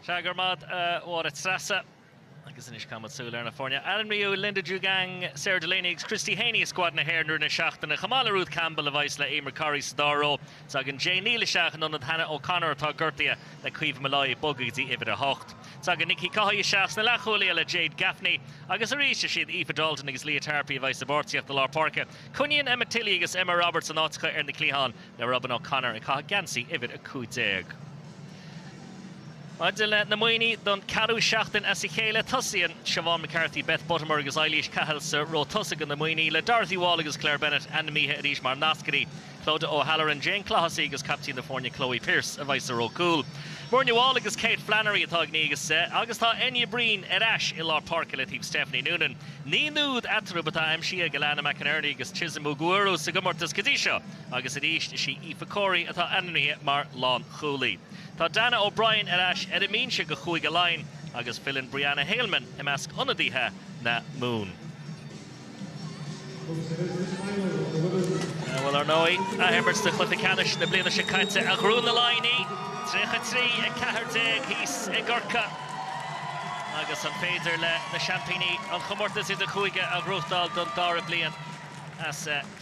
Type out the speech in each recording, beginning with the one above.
Sea, go raibh maith a't, a Mháire Treasa. Agus anois caithfimid súil ar na foirne. Ainmníodh Linda Djougang, Sarah Delaney agus Christy Haney i scuad na hÉireann i rith na seachtaine, chomh maith le Ruth Campbell, a bheidh's le Eimear Corri sa dara ró. Tagann Jane Neill isteach in ionad Hannah O'Connor, atá gortaithe le Caoimhe Molloy ag bogadh go dtí uimhir a hocht. Tagann Nikki Caughey isteach sna leathchúlaithe le Jade Gaffney agus arís is iad Aoife Dalton agus Leah Tarpey a bheidh's i bpáirtíocht i lár páirce. Coinníonn Emma Tilly agus Emma Roberts a n-áiteacha ar na cliatháin. le Robyn O'Connor ag caitheamh geansaí uimhir 15. Maidir leis na Muimhnigh don ceathrú seachtain as a chéile, tosaíonn Siobhán McCarthy, Beth Buttimer agus Eilís Cahill sa ró tosaigh do na Muimhnigh, le Dorothy Wall agus Claire Bennett ainmnithe arís mar nascairí, Clodagh O'Halloran, Jane Clohessy agus caiptín na foirne Chloe Pearse a bheidh sa ró cúil. Muirne Wall agus Kate Flannery atá ag naoi agus deich agus tá Enya Breen ar ais i lár páirce le taobh Stephanie Nunan. Naoi n-úd eatarthu atá aimsithe ag Alana McInerney agus Chisom Ugwueru sa gcomórtas go dtí seo. Agus arís is í Aoife Corey atá ainmnithe mar lánchúlaí. Tá Dannah O'Brien ar ais ar an mbinse do Chúige Laighean agus filleann Brianna Heylmann i measc ionadaithe na Mumhan. Bhuel, ar ndóigh, athimirt de chluiche ceannais na bliana seo caite a ghnóthaigh na Laighnigh, 33, 14 thíos i gCorcaigh agus an féidir le na seaimpíní an comórtas idir-chúige a ghnóthachtáil don dara bliain as a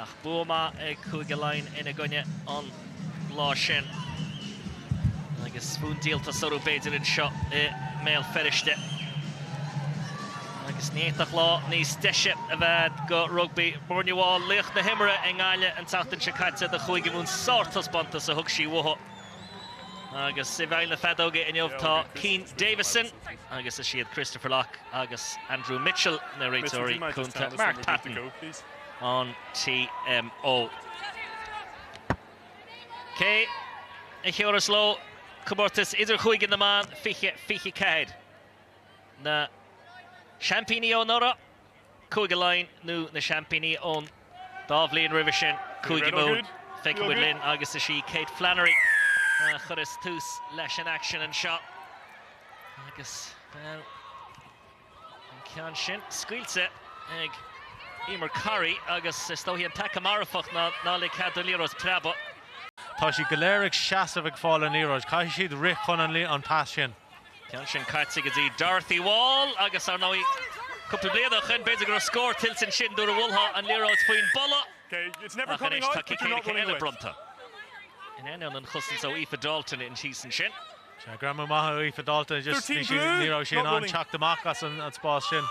Ach bua maith ag Cúige Laighean ina gcoinne an lá sin agus fonn díoltais orthu b'fhéidir anseo i mBéal Feirste. Agus ní fhéadfadh lá níos deise a bheith do rugbaí. Muirne Wall, laoch na himeartha i nGaillimh an tseachtain seo caite do Chúige Mumhan, sártaispeántas a thug sí uaithi. Agus i bhfeighil na feadóige inniu tá Keane Davison agus is iad Christopher Lough agus Andrew Mitchell na réiteoirí cúnta. Mark Patton. an TMO. Cé a thabharfas leo Comórtas Idir-Chúige na mBan 20 24? Na seaimpíní ó anuraidh, Cúige Laighean nó na seaimpíní ón dá bhliain roimhe sin, Cúige Mumhan? Feicfidh muid linn agus is í Kate Flannery a chuirfeas tús leis an aicsean anseo agus, bhuel, An ceann sin scaoilte ag Eimear Corri agus is dócha an peaca marfach ná ná lig cead don liathróid preabadh. Tá siad go léir ag seasamh ag fáil an liathróid. Caithfidh siad rith chun an pas sin. Ceann sin caite go dtí Dorothy Wall agus ar ndóigh cúpla bliain ó shoin b'fhéidir go raibh scór tuillte ansin nuair a bhualtheá an liathróid faoin bpolla ach anois tá cic éirice eile bronnta in ainneoin an chosaint ó Aoife Dalton thíos ansin. Sea, greamú maith ó Aoife Dalton, just bhí sí, ní raibh sí in ann teacht amach as an spás sin.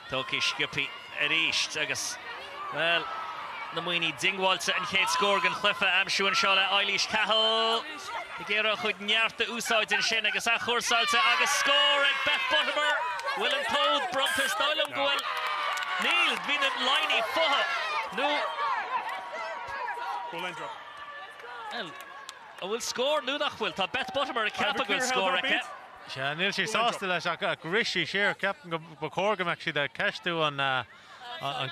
Tógtha sciobtha arís agus, bhuel, na Muimhnigh diongbháilte, an chéad scór den chluiche a aimsiú anseo le Eilís Cahill ag iarraidh a cuid neart a úsáid ansin agus athchúrsáilte agus scór ag Beth Buttimer. Bhfuil an t-úd bronnta? Is dóigh liom go bhfuil. Níl, bhí na Laighnigh fúthu, nó. Bhuel, An bhfuil scór nó nach bhfuil? Tá Beth Buttimer ag ceapadh go bhfuil scór aici. Sea, níl sí sásta leis ach rith sí siar. Ceapaim go ba chóir go mbeadh siad ag ceistiú an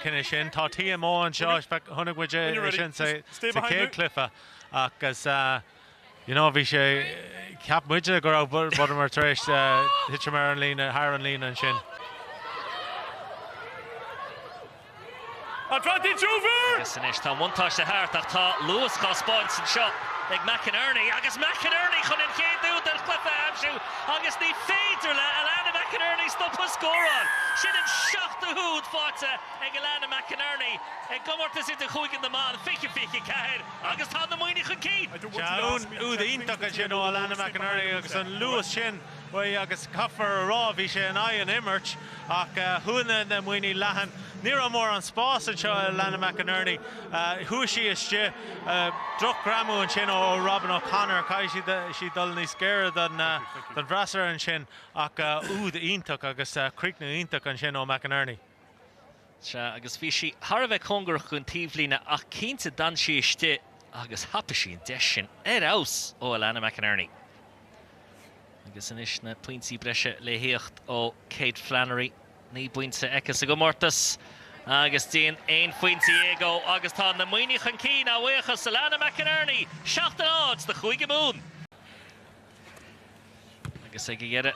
cinneadh sin. Tá TMO anseo, chonaic muid é sin sa chéad chluiche agus you know bhí sé, cheap muidne go raibh Buttimer tar éis titim ar an líne, thar an líne ansin. Agus anois tá an buntáiste thart ach tá luas dhá spáint anseo ag McInerney agus McInerney chun an chéad úd den chluiche a aimsiú agus ní féidir le Alannah McInerney stopadh ag scóráil. Sin an seachtú húd faighte ag Alannah McInerney i gcomórtas idirchúige na mban, fiche, fiche a ceathair, agus tá na Muimhnigh chun cinn. Sea, úd iontach ansin ó Alannah McInerney agus an luas sin. faoi agus caithfear a rá bhí sé in aghaidh an imirt ach chuaigh na Muimhnigh leathan. Ní raibh mórán spás anseo ag Alannah McInerney. Chuaigh sí istigh. Drochghreamú ansin ó Robyn O'Connor. Caithfidh sí dul níos gaire don bhfreasúra ansin ach úd iontach agus críochnú iontach ansin ó McInerney. Sea, agus bhí sí thar a bheith cóngarach don taobhlíne, ach cinnte d'fhan sí istigh agus thapaigh sí an deis sin ar fheabhas ó Alannah McInerney. Agus anois na pointí breise le thíocht ó Kate Flannery. Naoi bpointe aici sa gcomórtas agus déan aon phointe dhéag dhó agus tá na Muimhnigh chun cinn a bhuíochas Alannah McInerney, seacht a náid do Chúige Mumhan. Agus ag a dheireadh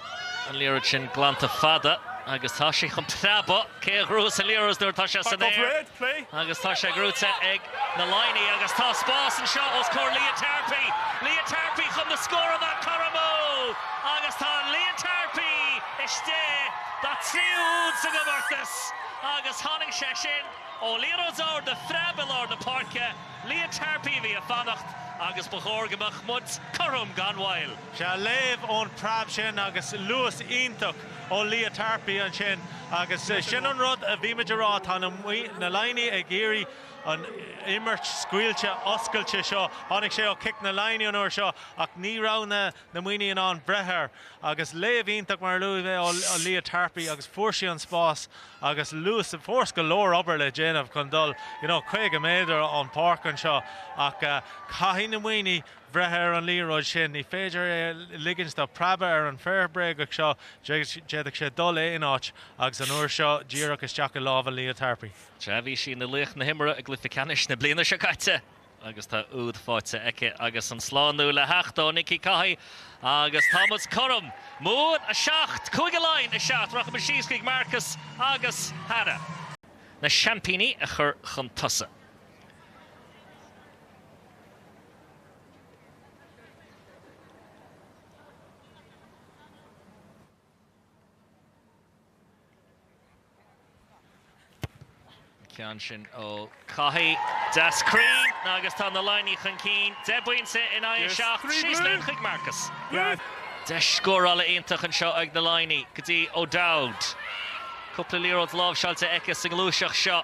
an liathróid sin glanta fada agus tá sé chun preabadh. Cé a ghnóthós an liathróid nuair atá sé san aer? Agus tá sé gnóthaithe ag na Laighnigh agus tá spás anseo os comhair Leah Tarpey. Leah Tarpey chun an scór a chothromú agus tá Leah Tarpey istigh dá tríú úd sa gcomórtas agus tháinig sé sin ó liathróid ard a phreab i lár na páirce. Leah Tarpey a bhí ag fanacht agus ba chóir go mbeadh muid cothrom gan mhoill. Sea, léamh ón preab sin agus luas iontach ó Leah Tarpey ansin agus sin an rud a bhí muid a rá, tá na Laighnigh ag iarraidh an imirt scaoilte, oscailte seo, tháinig sé ó chic na Laighnigh an uair seo ach ní raibh na. na Muimhnigh in ann breith air. Agus léamh iontach mar a luaigh mé ó Leah Tarpey agus fuair sí an spás agus luas, fós go leor obair le déanamh chun dul you know 50 méadar an pháirc anseo ach caithfidh na Muimhnigh breith ar an liathróid sin, ní féidir é a ligint dó preabadh ar an bhféar bréagach seo, d'fhéadfadh sé dul in aon áit agus an uair seo díreach isteach i lámha Leah Tarpey. Sea, bhí sí ina laoch na himeartha i gcluiche ceannais na bliana seo caite. agus tá úd fáighte aici agus an slánú le theacht ó Nikki Caughey agus tá muid cothrom. Mumha 7, Cúige Laighean 7. Rachaimid síos chuig Marcus agus Hannah. Na seaimpíní a chur chun tosaigh. Ceann sin ó Caughey. Deas cruinn agus tá na Laighnigh chun cinn, deich bpointe in aghaidh a seacht. Síos linn chuig Marcus. Deis scórála iontach anseo ag na Laighnigh go dtí O'Dowd. Cúpla liathróid láimhseáilte aici sa ngluaiseacht seo.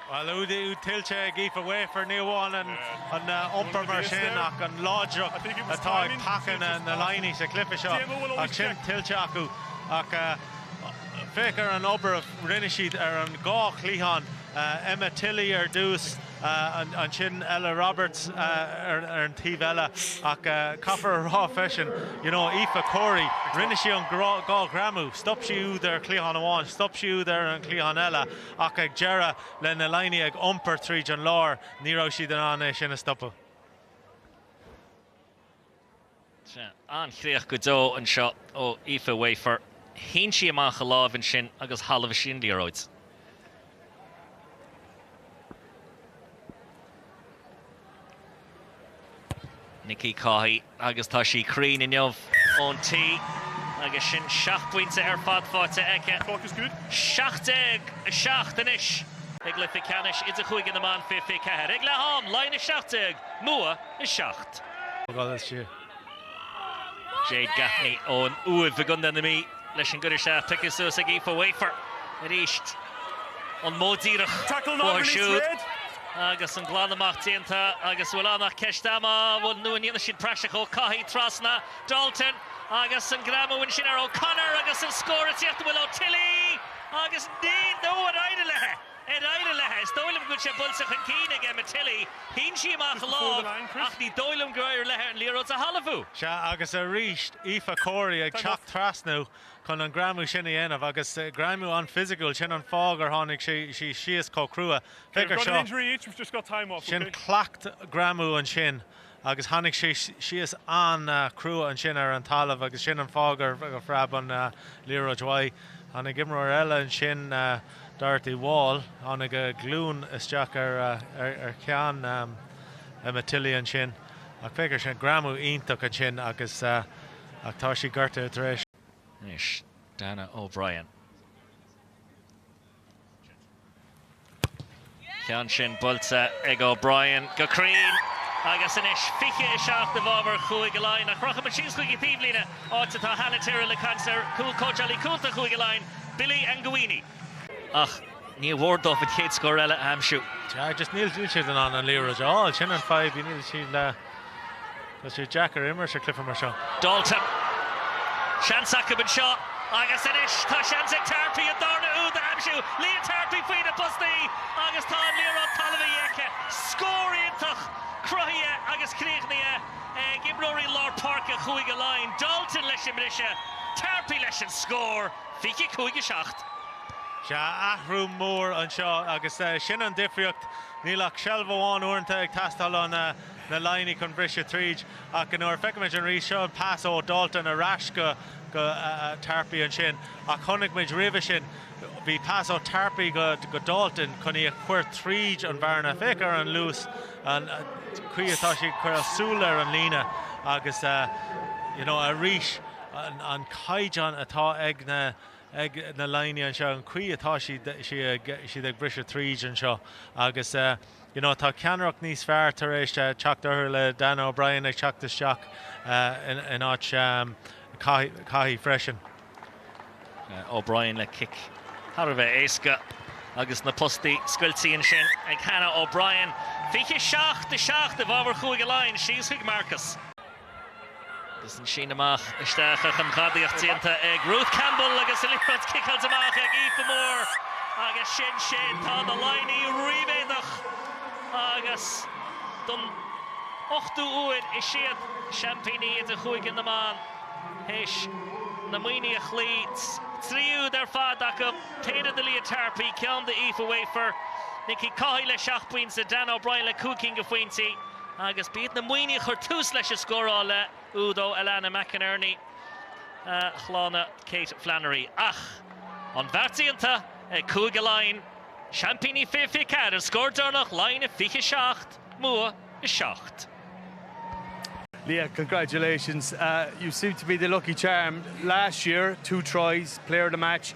Bhuel, úd tuillte ag Aoife Wafer, ní amháin an iompar mar sin ach an láidreacht atá ag paca na Laighnigh sa chluiche seo ach sin tuillte acu. Ach féach ar an obair a rinne siad ar an dhá chliathán, Emma Tilly ar dtús, ansin Ella Roberts ar an taobh eile ach caithfear a rá freisin, you know, Aoife Corey, rinne sí an dhá ghreamú, stop sí úd ar chliathán amháin, stop sí úd ar an chliathán eile. Ach ag deireadh, le na Laighnigh ag iompar tríd an lár, ní raibh siad in ann é sin a stopadh. Sea, an-chríoch go deo anseo ó Aoife Wafer. Shín sí amach a lámh ansin agus thalmhaigh sí an liathróid. Nikki Caughey agus tá sí cruinn inniu ón tí agus sin seacht bpointe ar fad faighte aici. 17:07 anois i gcluiche ceannais idirchúige na mban 2024 ag leath-am, Laighin 17, Mumha 7. Jade Gaffney ón Uaimh i gContae na Mí leis an gcur isteach. Pioctha suas ag Aoife Wafer arís. An modh díreach uathu siúd agus an glan amach déanta agus bhfuil ann ach ceist ama, bhuel nó an ndéanfaidh siad praiseach? Ó Caughey trasna, Dalton agus an greamú ansin ar O'Connor agus an scór ag tíocht, bhuel ó Tilly agus níl nó ar éirigh léi. Ar éirigh leithe? Is dóigh liom go bhfuil sé buailte chun cinn ag Emma Tilly. Shín sí amach a lámh ach ní dóigh liom gur éirigh leithe an liathróid a thalmhú. Sea, agus arís Aoife Corey ag teacht trasna chun an greamú sin a dhéanamh agus greamú an-fhisiciúil. Sin an fáth gur tháinig sí síos chomh crua. Féach ar seo. Sin cleacht greamú ansin Agus tháinig sí síos an-chrua ansin ar an talamh agus sin an fáth gur phreab an liathróid uaidh. Tháinig imreoir eile ansin, Dorothy Wall, tháinig a glúin isteach ar cheann Emma Tilly ansin. Ach féach ar sin, greamú iontach ansin agus ach tá sí gortaithe tar éis. Anois Dannah O'Brien. Ceann sin buailte ag O'Brien go cruinn agus anois 20, 7 i bhfabhar Chúige Laighean. Ach rachaimid síos chuig an taobhlíne, áit atá Hannah Tyrrell ag caint le cóitseálaí cúnta Chúige Laighean, Billy Ngawini. Ach ní mór dóibh an chéad scór eile a aimsiú. Níl siad in ann an liathróid a fháil, sin an fadhb. Tá sé deacair imirt sa chluiche mar seo. Dalton. Seans acu anseo agus anois tá seans ag Tarpey an darna úd a aimsiú. Leah Tarpey faoi na postaí agus tá an liathróid talmhaithe aici. Scór iontach cruthaithe agus críochnaithe ag imreoirí lár páirce Chúige Laighean. Dalton leis an mbriseadh, Tarpey leis an scór, 25, 7. Sea, athrú mór anseo agus sin an difríocht. Níl ach seilbh amháin uaireanta ag teastáil ó na na Laighnigh chun briseadh tríd ach nuair a feicimid an rith seo an pas ó Dalton ar ais go go Tarpey ansin ach chonaic muid roimhe sin bhí pas ó Tarpey go go Dalton chun í a chur tríd an bhearna féach ar an luas an chaoi atá sí ag cur a súil ar an líne agus you know arís an an caighdeán atá ag na ag na Laighnigh anseo, an chaoi atá siad, siad, siad ag briseadh tríd anseo agus you know tá ceannaireacht níos fearr tar éis teacht orthu le Dannah O'Brien ag teacht isteach in áit Caughey freisin. O'Brien le cic thar a bheith éasca agus na postaí scoiltí ansin ag Dannah O'Brien. 27, 7 i bhfabhar Chúige Laighean, síos chuig Marcus. Agus an síneadh amach isteach ach an ghadaíocht déanta ag Ruth Campbell agus an liathróid ciceáilte amach ag Aoife Moore agus sin sin. Tá na Laighnigh ríméadach agus don ochtú uair is iad seaimpíní idirchúige na mban théis na Muimhnigh a chloí. Trí úd ar fad acu, péire do Leah Tarpey, ceann do Aoife Wafer, Nikki Caughey le seacht bpointe, Dannah O'Brien le cúig cinn de phointí. Agus b'iad na Muimhnigh a chuir tús leis an scóráil le húd ó Alana McInerney, shlánaigh Kate Flannery. Ach an bheart déanta ag Cúige Laighean, seaimpíní 2024, an scór deireanach, Laighin 27, Mumha 7. Leah, congratulations. You seem to be the lucky charm. Last year, two tries, player of the match,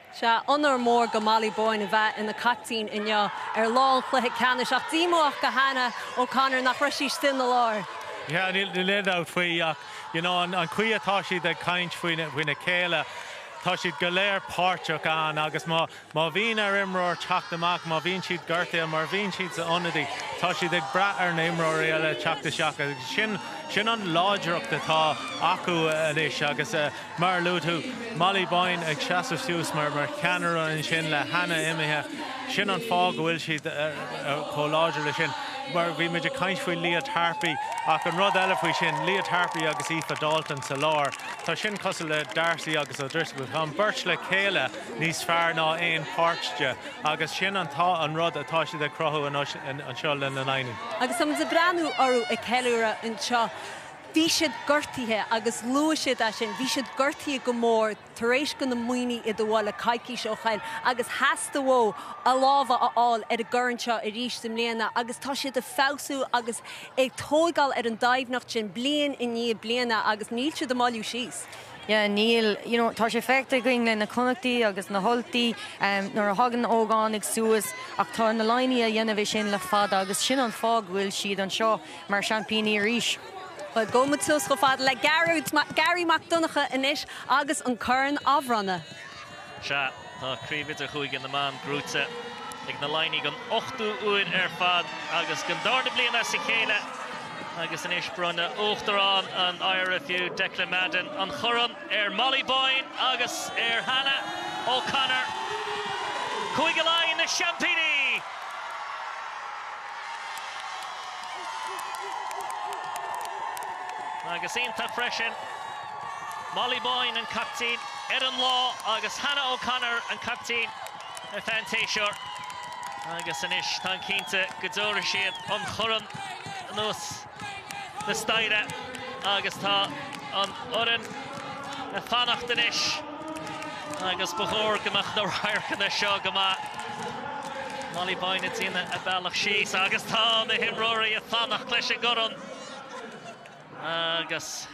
Sea, onóir mór do Molly Boyne a bheith ina caiptín inniu ar lá an chluiche ceannais ach díomách do Hannah O'Connor nach raibh sí istigh ina lár. Yeah, níl aon dabht faoi ach you know an chaoi atá siad ag caint faoina chéile tá siad go léir páirteach ann agus má bhíonn ar imreoir teacht amach, má bhíonn siad gortaithe, mar bhíonn siad sa ionadaí, tá siad ag brath ar na imreoirí eile teacht isteach agus sin an láidreacht atá acu anois agus, Mar a luaigh tú, Molly Boyne ag seasamh suas mar cheannaire ansin le Hannah imithe. Sin an fáth go bhfuil siad chomh láidir leis sin. Mar bhí muid ag caint faoi Leah Tarpey ach an rud eile faoi sin, Leah Tarpey agus Aoife Dalton sa lár, tá sin cosúil le D'Arcy agus O'Driscoll. Tá an beirt le chéile níos fearr ná aon páirt de agus sin an rud atá siad ag cruthú anois anseo le na Laighnigh. Agus táimid ag breathnú orthu ag ceiliúradh anseo. Bhí siad gortaithe agus luaigh siad é sin. Bhí siad gortaithe go mór tar éis do na Muimhnigh iad a bhualadh coicís ó shin agus theastaigh uathu a lámha a fháil ar an gcorn seo arís i mbliana agus tá siad ag feabhsú agus ag tógáil ar an doimhneacht sin bliain i ndiaidh bliana agus níl siad ag moilliú síos. Yeah níl. You know tá sé feicthe againn le na Connachtaigh agus na hUltaigh nuair a thagann na hógánaigh suas ach tá na Laighnigh a dhéanamh é sin le fada agus sin an fáth go bhfuil siad anseo. Mar seaimpíní arís. Bhuel, gabhfaidh muid suas chomh fada le Garry Mac Donncha anois agus an corn á bhronnadh. Sea, tá Craobh Idirchúige na mBan gnóthaithe ag na Laighnigh don ochtú uair ar fad agus don darna bliain as a chéile agus anois bronnfaidh Uachtarán an IRFU, Declan Madden, an chorn ar Molly Boyne agus ar Hannah O'Connor. Cúige Laighean na seaimpíní! Agus iontach freisin, Molly Boyne an captaen ar an lá agus Hannah O'Connor an captaen ar feadh an tséasúir. Agus anois táim cinnte go dtabharfaidh siad an chorn anuas. na staighre agus tá an fhoireann ag fanacht anois agus ba chóir go mbeadh na radharcanna seo go maith. Molly Boyne ag déanamh a bealach síos agus tá na himreoirí ag fanacht leis an gcorn agus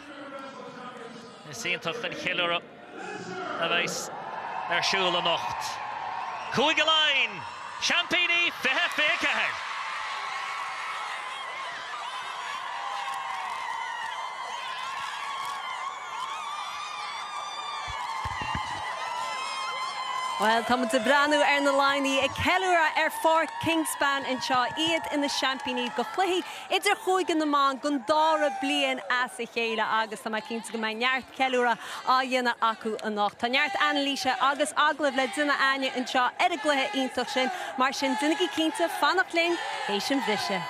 is iontach an cheiliúradh. a bheas ar siúl anocht. Cúige Laighean, seaimpíní 2024! Bhuel, táimid ag breathnú ar na Laighnigh ag ceiliúradh ar Pháirc Kingspan anseo, iad ina seaimpíní de chluichí Idir Chúige na mBan go an dara bliain as a chéile agus tá mé cinnte go mbeidh neart ceiliúradh á dhéanamh acu anocht. Tá neart anailíse agus agallamh le déanamh againn anseo ar an gcluiche iontach sin mar sin déanaigí cinnte fanacht linn tar éis an bhriseadh.